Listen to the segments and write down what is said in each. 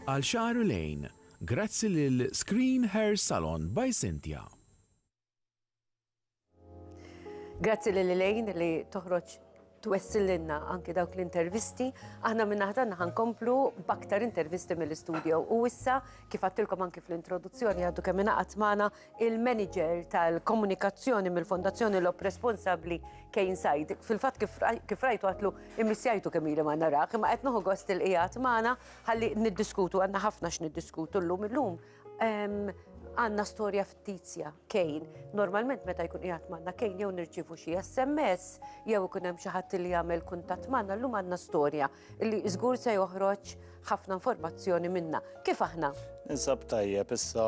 Għal xahar u lejn, grazzi lil Screen Hair Salon by Cynthia. Grazzi lil Elaine li toħroġ twessililna anki dawk l-intervisti. Aħna minna ħatanna ħankomplu baktar intervisti mill-studio. U issa, kif għattilkom anki fl-introduzzjoni għaddu kemm inaqat magħna il-manager tal-komunikazzjoni mill-Fondazzjoni Lob responsabbli Kane Said. Fil-fatt kif rajtu għatlu immissjajtu kemm ili ma narax, imma qed noħu gost il-qiegħed magħna ħalli niddiskutu għandna ħafna x'niddiskutu llum illum. Għandna storja fittizja Kane. Normalment meta jkun qiegħed magħna Kane jew nirċievu xi SMS jew ikun hemm xi ħadd li jagħmel kuntatt magħna llum għandna storja. illi żgur se joħroġ ħafna informazzjoni minna. Kif aħna? Insab tajjeb issa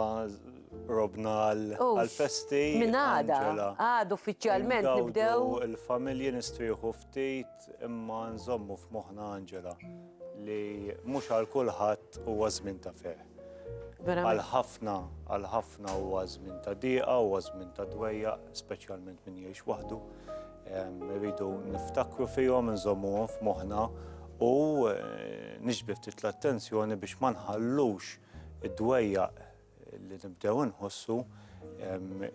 robna għal-festi. Minn għada, għad uffiċjalment nibdew. Il-familji nistrieħu ftit imma nżommu f'moħna Angela li mhux għal kulħadd huwa żmien ta' fer. Għal ħafna, għal ħafna huwa żmien ta' diqa, huwa żmien ta' dwejja, speċjalment min jgħix waħdu. Irridu niftakru fihom, nżommuhom f'moħħna u nixbi ftit l-attenzjoni biex ma nħallux id-dwejjaq li nibdew inħossu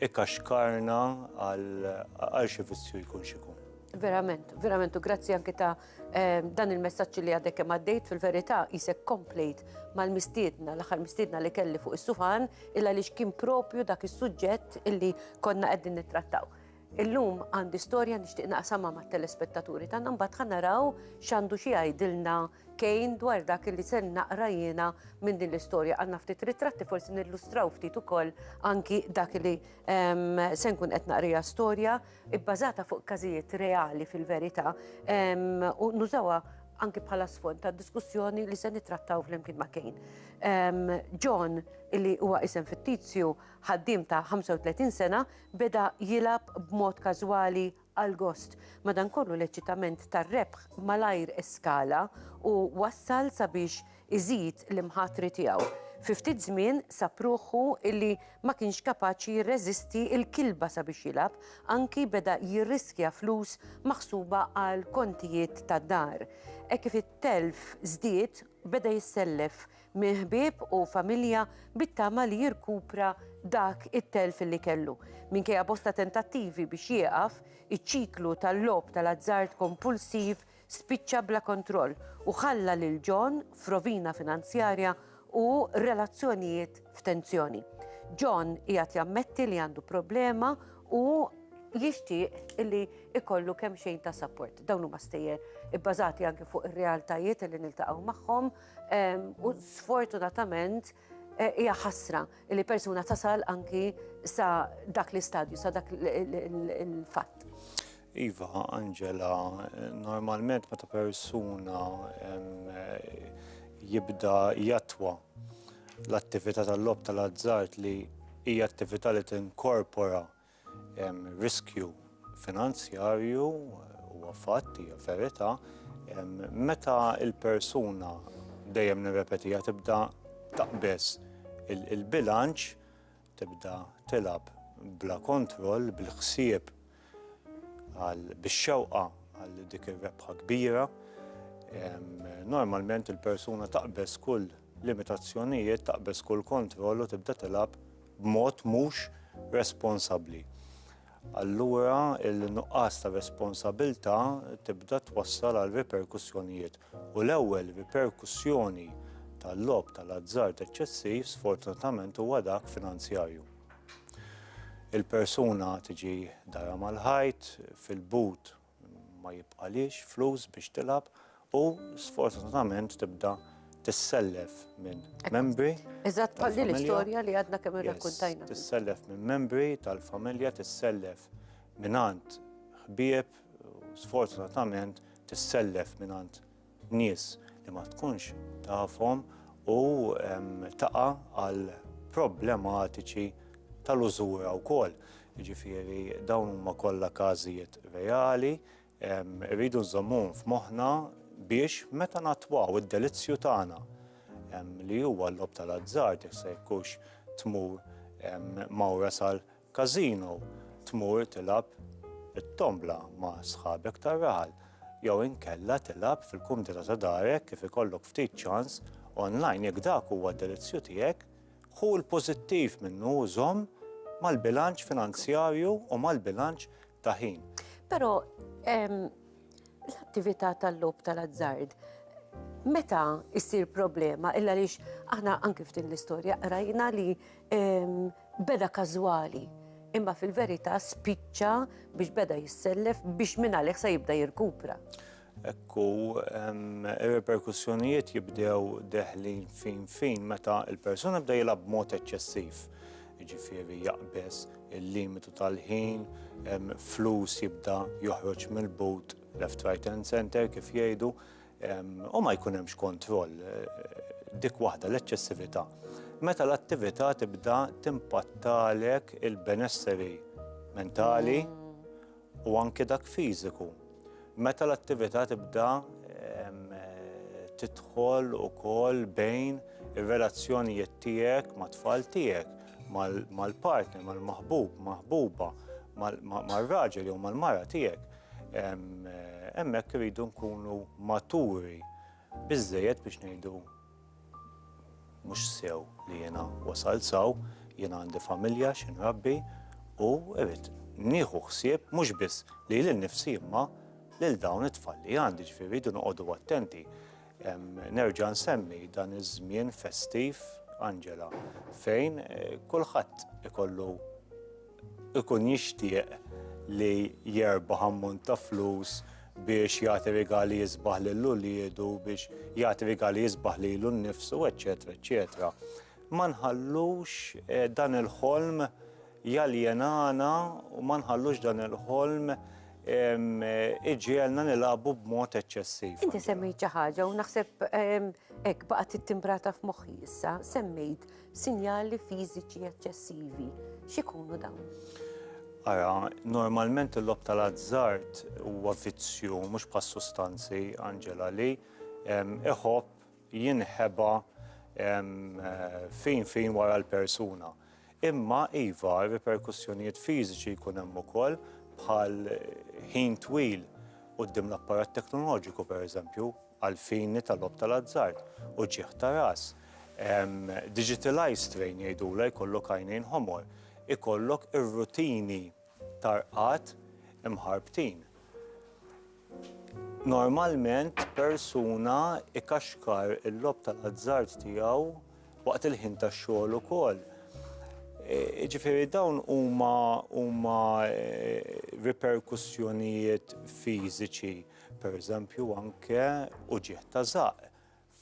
ikaxkarna għal xi vizzju jkun xikun. Verament, verament, u grazzi anki ta' ehm, dan il-messagġ li għadek kemm għaddejt fil-verità jisek komplejt mal-mistiedna, l-aħħar mistiedna li kelli fuq is-suħan, illa li kien propju dak is-suġġett illi konna qegħdin nittrattaw. Illum għandi storja nixtieq naqsamha mat-telespettaturi tagħna mbagħad ħa naraw x'għandu xi jgħidilna kejn dwar dak li se naqra jiena minn din l-istorja. Għandna ftit ritratti forsi nillustraw ftit ukoll anki dak li ehm, se nkun qed naqrija storja bbażata fuq każijiet reali fil-verità ehm, u nużawha anki bħala sfond ta' diskussjoni li se nitrattaw flimkien ma' Kane. John, illi huwa isem fittizju, ħaddim ta' 35 sena, beda jilgħab b'mod każwali għall-gost, madankollu l-eċitament tar-rebħ malajr eskala u wassal sabiex iżid l-imħatri tiegħu. Fi ftit żmien sab ruħu illi ma kienx kapaċi jirreżisti l-kilba sabiex jilgħab, anki beda jirriskja flus maħsuba għal kontijiet tad-dar. Hekk kif it-telf żdied, beda jissellef minn ħbieb u familja bit-tama li jirkupra dak it-telf li kellu. Minkejja bosta tentattivi biex jieqaf, iċ-ċiklu tal-logħob tal-azzard kompulsiv spiċċa bla kontroll u ħalla lil John f'rovina finanzjarja u relazzjonijiet f'tensjoni. John qiegħed jammetti li għandu problema u jixtieq li ikollu kemm xejn ta' support. Dawn huma stejjer ibbażati anke fuq ir-realtajiet li niltaqgħu magħhom U sfortunatament hija ħasra li persuna tasal anki sa dak l-istadju, sa dak il-fatt. Iva, Angela, normalment meta persuna jibda jatwa l-attività tal-lob tal-azzart li hija attività li tinkorpora Hemm riskju finanzjarju huwa fatt hija verità meta l-persuna dejjem nirrepetiha tibda taqbeż il-bilanċ, tibda tilgħab bla kontroll bil-ħsieb għal bix-xewqa għal dik ir-rebħa kbira. Normalment il-persuna taqbeż kull limitazzjonijiet, taqbeż kull kontroll u tibda tilgħab b'mod mhux responsabbli. Allura il-nuqqas ta' responsabilità tibda twassal għal riperkussjonijiet u l-ewwel riperkussjoni tal-logħob tal-azzard eċċessiv sfortunatament huwa dak finanzjarju. Il-persuna tiġi dara mal-ħajt, fil-but Ma jibqalhiex flus biex tilgħab u sfortunatament tibda tissellef minn membri. Eżatt bħal din l-istorja li għadna kemm irrakkuntajna. Tissellef minn membri tal-familja, tissellef minn għand ħbieb, sfortunatament tissellef minn għand nies li ma tkunx tafhom u taqa' għal problematiċi tal-użura wkoll. Jiġifieri dawn huma kollha każijiet reali, irridu nżommuhom f'moħħna biex meta nattwaw id-delizzju tagħna li huwa l-logħob tal-azzard jekk se jkunx tmur mawra sal Każino, tmur tilgħab it-tombla ma' sħabek tar-raħal jew inkella tilgħab fil-kumdità ta' darek kif ikollok ftit ċans onlajn jekk dak huwa d-delizzju tiegħek, ħu l-pożittiv minnu u żomm mal-bilanċ finanzjarju u mal-bilanċ ta' ħin. Però l-attività tal-logħob tal-azzard meta ssir problema illa għaliex aħna anke f'din l-istorja qrajna li Beda każwali, imma fil-verità spiċċa biex beda jissellef biex minn għalih se jibda jirkupra. Hekk hu, ir-riperkussjonijiet jibdew deħlin fin fin meta l-persuna bda jilgħab b'mod eċċessiv jiġifieri jaqbeż il-limitu tal-ħin, flus jibda joħroġ mill-but left, right and center kif jgħidu, u ma jkun hemmx kontroll, dik waħda l-eċċessività. Meta l-attività tibda timpattalek il-benesseri mentali u anke dak fiżiku. Meta l-attività tibda tidħol ukoll bejn ir-relazzjonijiet tiegħek mat-tfal tiegħek, mal-partner, mal-maħbub, maħbuba, mar-raġel jew mal-mara tiegħek. Hemmhekk irridu nkunu maturi biżżejjed biex ngħidu mhux sew li jiena wasalt s'hawn, jiena għandi familja xi nrabbi u rrid nieħu ħsieb mhux biss lili nnifsi imma lil dawn it-tfal li għandi, ġifieri rridu noqogħdu attenti. Nerġa' nsemmi dan iż-żmien festiv, Angela, fejn kulħadd ikollu ikun jixtieq li jerbaħ ammont ta' flus biex jagħti rigali jisbaħ lil uliedu, biex jagħti rigali jisbaħ lilu nnifsu, eċċetera, eċċetera. Ma nħallux eh, dan il-ħolm jaljenana u ma nħallux dan il-ħolm eh, iġielna nilagħbu b'mod eċċessiv. Inti semmejt xi ħaġa u naħseb hekk baqgħet ittimbrata f'moħħi issa, semmejt Sinjali fiżiċi eċċessivi, x'ikunu dawn? Ara, normalment il-lob tal-azzard huwa vizzju, mhux bħas sustanzi, Angela, li iħobb jinħeba eh, fin fin wara l-persuna. Imma iva, riperkussjonijiet fiżiċi jkun hemm ukoll bħal ħin twil qudiem l-apparat teknoloġiku pereżempju, għall-fini tal-logħob tal-azzard, uġigħ ta' ras, digital eye strain jgħidulha, jkollok għajnejn ħomor, ikollok ir-rutini ta' rqad imħarbtin. Normalment persuna ikaxkar il-logħob tal-azzard tiegħu waqt il-ħin tax-xogħol ukoll. Jiġifieri dawn huma huma riperkussjonijiet fiżiċi. Pereżempju anke uġigħ ta' żaqq,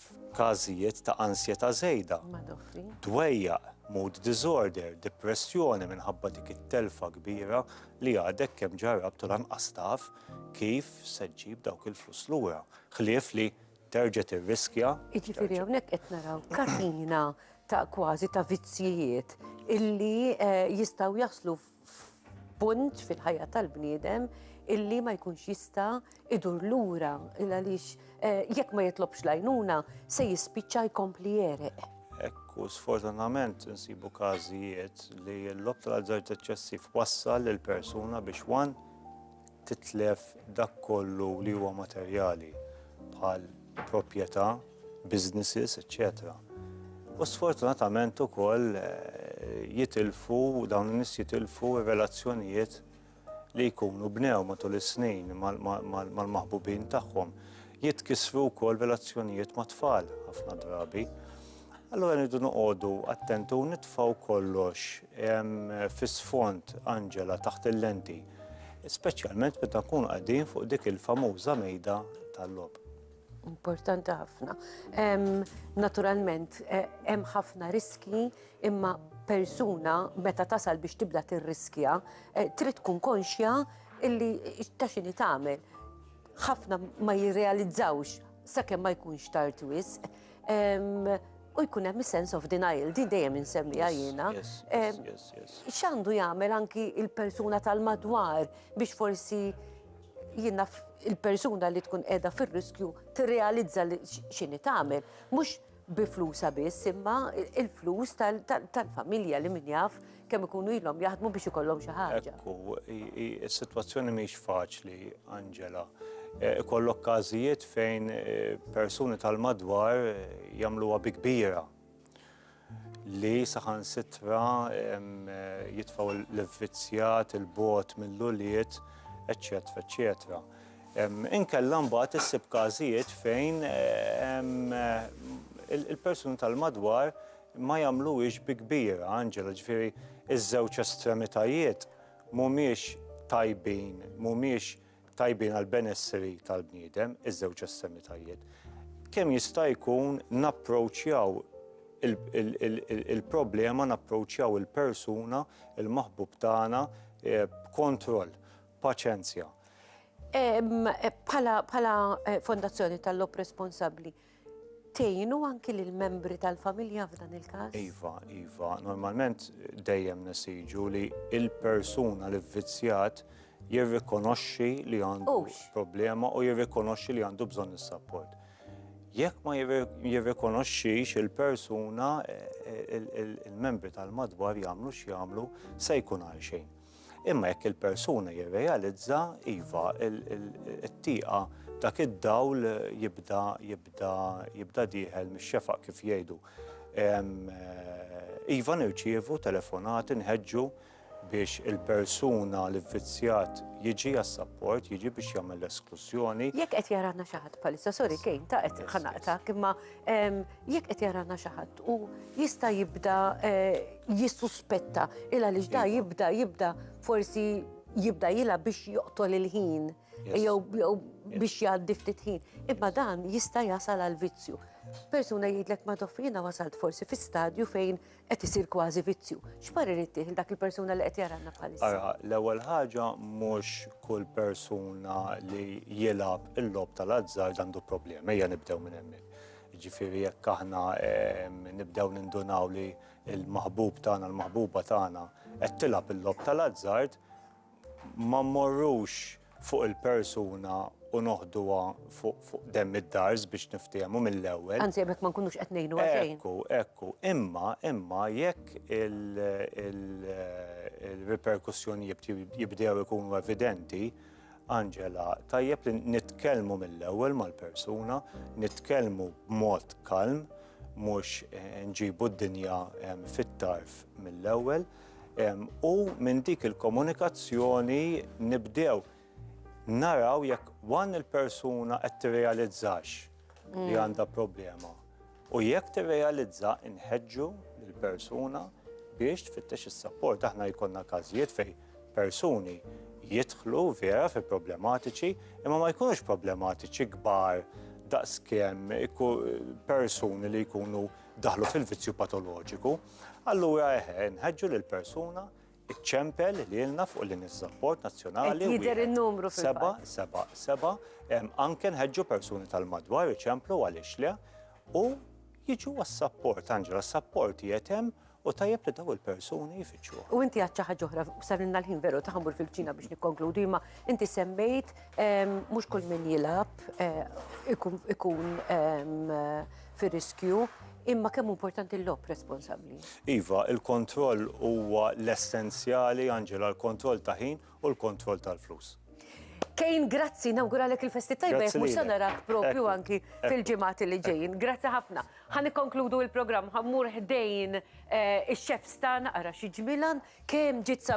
f'każijiet ta' ansjetà żejda, dwejjaq, mood disorder, dipressjoni minħabba dik it-telfa kbira li għadek kemm ġarrabt u lanqas taf kif se ġġib dawk il-flus lura, ħlief li terġa' tirriskja. Jiġifieri hawnhekk qed naraw katina ta' kważi ta' vizzjijiet illi jistgħu jaslu f'punt fil-ħajja tal-bniedem illi ma jkunx jista' idur lura il għaliex eh, jekk ma jitlobx lajnuna se jispiċċa jkompli jereq. Ekku, sfortunament nsibu każijiet li l-lob tal-azzard eċċessiv wassal il-persuna biex wan titlef dak kollu li huwa materjali bħal proprjetà, businesses, eċċetera U sfortunatament ukoll jitilfu, dawn in-nies jitilfu r-relazzjonijiet li jkunu bnew matul is-snin mal-maħbubin tagħhom. Jitkissru wkoll relazzjonijiet mat-tfal ħafna drabi. Allora nidu noqogħdu attenti u nitfgħu kollox fis-sfond Angela taħt il-lenti, speċjalment meta nkunu qegħdin fuq dik il-famuża mejda tal-lob. Importanti ħafna. Naturalment, e, hemm ħafna riski imma persuna meta tasal biex tibda tirriskja, e, trid tkun konxja illi ta' xini tagħmel. Ħafna ma jirrealizzawx sakemm ma jkunx tard wisq. u jkun hemm sense of denial, din dejjem insemmija jiena. X'għandu jagħmel anki il-persuna tal-madwar biex forsi jiena il-persuna li tkun qiegħda fir-riskju tirrealizza li x'inhi tagħmel. Mhux bi flusa biss, imma il-flus tal-familja li min jaf kemm ikunu ilhom jaħdmu biex ikollhom xi ħaġa. Ekku, is-sitwazzjoni mhix faċli, Angela. E, ikollok każijiet fejn e, persuni tal-madwar e, jagħmluha bi kbira li saħan sitra jitfaw l-vizjat, il-bot mill-uliet, eccetera, eccetera. Inkella mbagħad issib każijiet fejn il-persuni tal-madwar Ma jagħmluhiex bi kbir, Angela, ġifieri ż-żewġ estremitajiet mhumiex tajbin, mhumiex tajbin għall-benesseri tal-bniedem, iż-żewġ estremitajiet. Kemm jista' jkun napproċċjaw il-problema, napproċċjaw il-persuna, il-maħbub tagħna b'kontroll, paċenzja. Bħala Fondazzjoni tal-Logħob Responsabbli, Tgħinu anki lill-membri tal-familja f'dan il-każ? Iva, iva. Normalment dejjem nesiġu li l-persuna li vvizzjat jirrikonoxxi li għandu problema u jirrikonoxxi li għandu bżonn is-sapport. Jekk ma jirrikonoxxix il-persuna, eh, eh, il-membri tal-madwar jagħmlu x'jagħmlu se jkun għal xejn. Imma jekk il-persuna jirrealizza, iva, it-tieqa dak id-dawl jibda jibda jibda dieħel mix-xefaq kif jgħidu. Iva nirċievu telefonati nħeġġu biex il-persuna li vvizzjat jiġi għas-sapport, jiġi biex jagħmel l-esklużjoni. Jekk qed jaranna xi ħadd bħalissa, sorry kejn ta' qed ħanaqtak, imma Jekk qed jarana xi ħadd u jista' jibda eh, jissuspetta il għaliex da jibda jibda forsi jibda jila biex joqtol il-ħin jew biex jgħaddi ftit ħin. Imma dan jista' jasal għal vizzju. Persuna jgħidlek ma jiena wasalt forsi fi stadju fejn Qed isir kważi vizzju. X'parir ittieħ dak il-persuna li qed jaranna bħalissa? Ara, l-ewwel ħaġa mhux kull persuna li jilgħab il-lob tal-azzard għandu problemi, ejja nibdew minn hemmhekk. Ġifieri jekk aħna ehm, nibdew nindunaw li l-maħbub tagħna, l-maħbuba tagħna qed tilgħab il-lob tal-azzard, Ma mmorrux fuq il-persuna u noħduha fuq fuq demm id-dars biex niftiehmu mill-ewwel. Anzi hemmhekk ma nkunux qed ngħinu għal xejn. Ekku, ekku. Imma, imma jekk il-riperkussjoni jibdew ikunu evidenti, Angela, tajjeb li nitkellmu mill-ewwel mal-persuna, nitkellmu b'mod kalm, mhux nġibu d-dinja fit-tarf mill-ewwel. U minn dik il-komunikazzjoni nibdew naraw jekk wan il-persuna qed tirrealizzax li mm. għandha problema. U jekk tirrealizza inħeġġu l-persuna biex tfittex is-sapport. Aħna jkollna każijiet fej persuni jidħlu vera fi problematiċi, imma ma jkunux problematiċi kbar daqskemm persuni li jkunu daħlu fil-vizzju patoloġiku. Allura eħe, nħeġġu lil persuna iċċempel lilna fuq li niż-żapport nazzjonali. Jidher in-numru fil-seba, seba, seba, anke nħeġġu persuni tal-madwar iċemplu għaliex le u jiġu għas-sapport, Angela, s-sapport jietem u tajjeb li daw il-persuni jfittxu. U inti għadċa ħaġa oħra, sarinna l-ħin veru taħmur fil-ċina biex nikkonkludi, ma inti semmejt mhux kull min jilab ikun fir-riskju, imma kemm importanti l-lob responsabbli. Iva, il-kontroll huwa l-essenzjali, Angela, l-kontroll ta' ħin u l-kontroll tal-flus. Kejn, grazzi, nawguralek il-festi tajba, jek mux sanarak propju anki fil-ġimati li ġejn. Grazzi ħafna. Għan konkludu il-program, ħammur ħdejn eh, il-xef stan, għara xieġmilan, kem ġitza